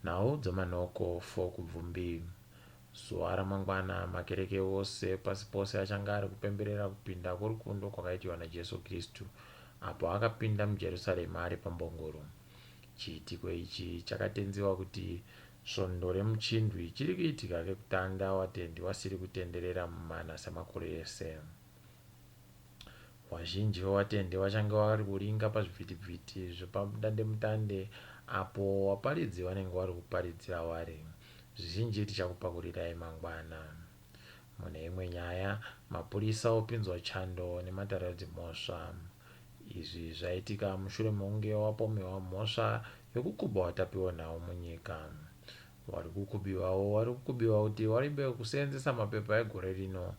Nhau dzamanoko for kubvumbi. Zuva ramangwana makereke ose pasi pose achange ari kupemberera kupinda kworukundwa kwakaitirwa naJesu Kristu apo akapinda muJerusarema ari pambongoro. Chiitiko ichi chakatenziwa kuti svondo remuchindwi chiri kuitika kekutanga watendi wasiri kutenderera mumana semakore ese. Vazhinji vevatendi vachange vari kuringa pazvivhitivhiti zvepamudandemutande apo vaparidzi vanenge vari kuparidzira vari. Zvizhinji tichakupakurirai mangwana. Mune imwe nyaya, mapurisa opinzwa chando nematare edzimhosva. Izvi zvaitika mushure mekunge wapomerwa mhosva yekukuba vatapi venhau munyika. Wari kukubiwawo wari kukubiwa kuti waribe kuseenzesa mapepa egore rino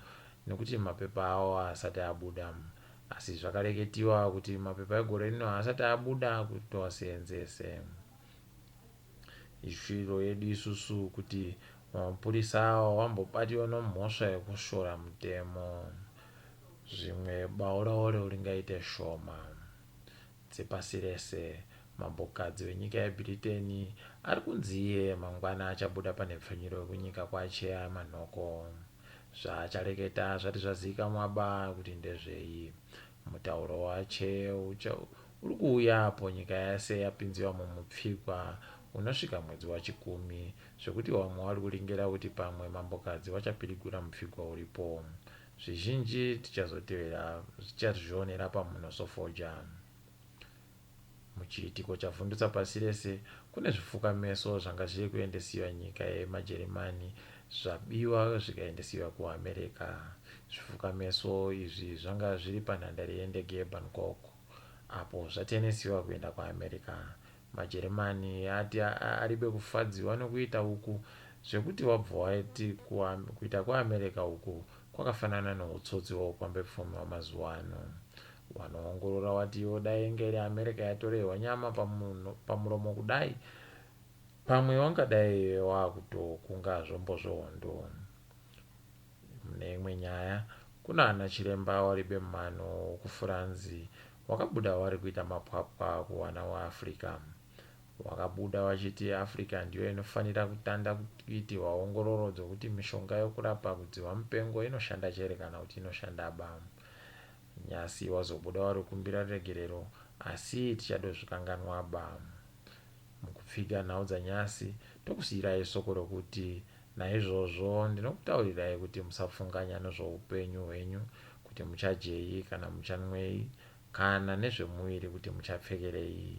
nekuti mapepa awo haasati abuda. Asi zvakareketiwa kuti mapepa egore rino haasati abuda kuti tiwaseenzese. Ishwiro yedu isusu kuti mapurisa awa wambobatiwa nomhosva yekushora mutemo. Zvimwe bauraore uringaite shoma. dzepasi rese. Mambokadzi wenyika yeBhriteni ari kunzi iye mangwana achabuda panhepfenyuro yekunyika kwaChea Manhoko. Zvaachareketa zvati zvazivikamwa ba kuti ndezvei. Mutauro waChea ucha uri kuuya apo nyika yese yapinziwa mumupfigwa unosvika mwedzi waChikumi zvekuti vamwe vari kuringirira kuti pamwe mambokadzi vachapirigura mupfigwa uripo. Zvizhinji tichazotevera zvicharizvionera pamhuno sofoja. Muchiitiko chavhundutsa pasi rese, kune zvifukameso zvanga zviri kuendesiwa nyika yemaJerimani zvabiwa zvikaendesiwa kuAmerica. Zvifukameso izvi zvanga zviri panhandare yendege yeBangkok apo zvatenesiwa kuenda kuAmerica. Majeremani ati aribe kufadzirwa nekuita uku zvekuti wabva wati kuita kweAmerica uku kwakafanana nehutsotsi hweupambepfumi hwamazuva ano. Wanoongorora watiwo dai inga iri America yatorehwa nyama pamuromo kudai pamwe wangadai wakutokunga zvombo zvehondo. Mune imwe nyaya, kuna ana chiremba waribe mumano wekufuranzi Wakabuda wari kuita mapwapwa kuwana waAfrica. Wakabuda wachiti Africa ndiyo inofanira kutanda kuitirwa ongororo dzokuti mishonga yokurapa kudziva mupengo inoshanda chere kana kuti inoshandaba. Nyasi wazobuda wari kukumbira ruregerero asi tichadozvikanganwaba. Mukupfiga nhau dzanyasi, ndokusiyirai soko rokuti, Naizvozvo ndinokutaurirai kuti musafunganya nezvoupenyu hwenyu, kuti muchadyei kana muchanwei, kana nezvemuviri, kuti muchapfekerei.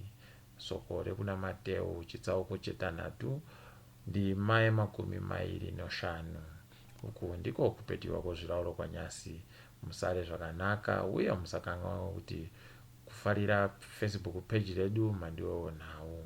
Soko rekuna Mateu chitsauko chetanhatu, ndima yemakumi mairi noshanu. Uku ndiko kupetirwa kwozvirauro kwanyasi, Musare zvakanaka, uye musakanganwa kuti kufarira Facebook page redu mandiwewo nhau.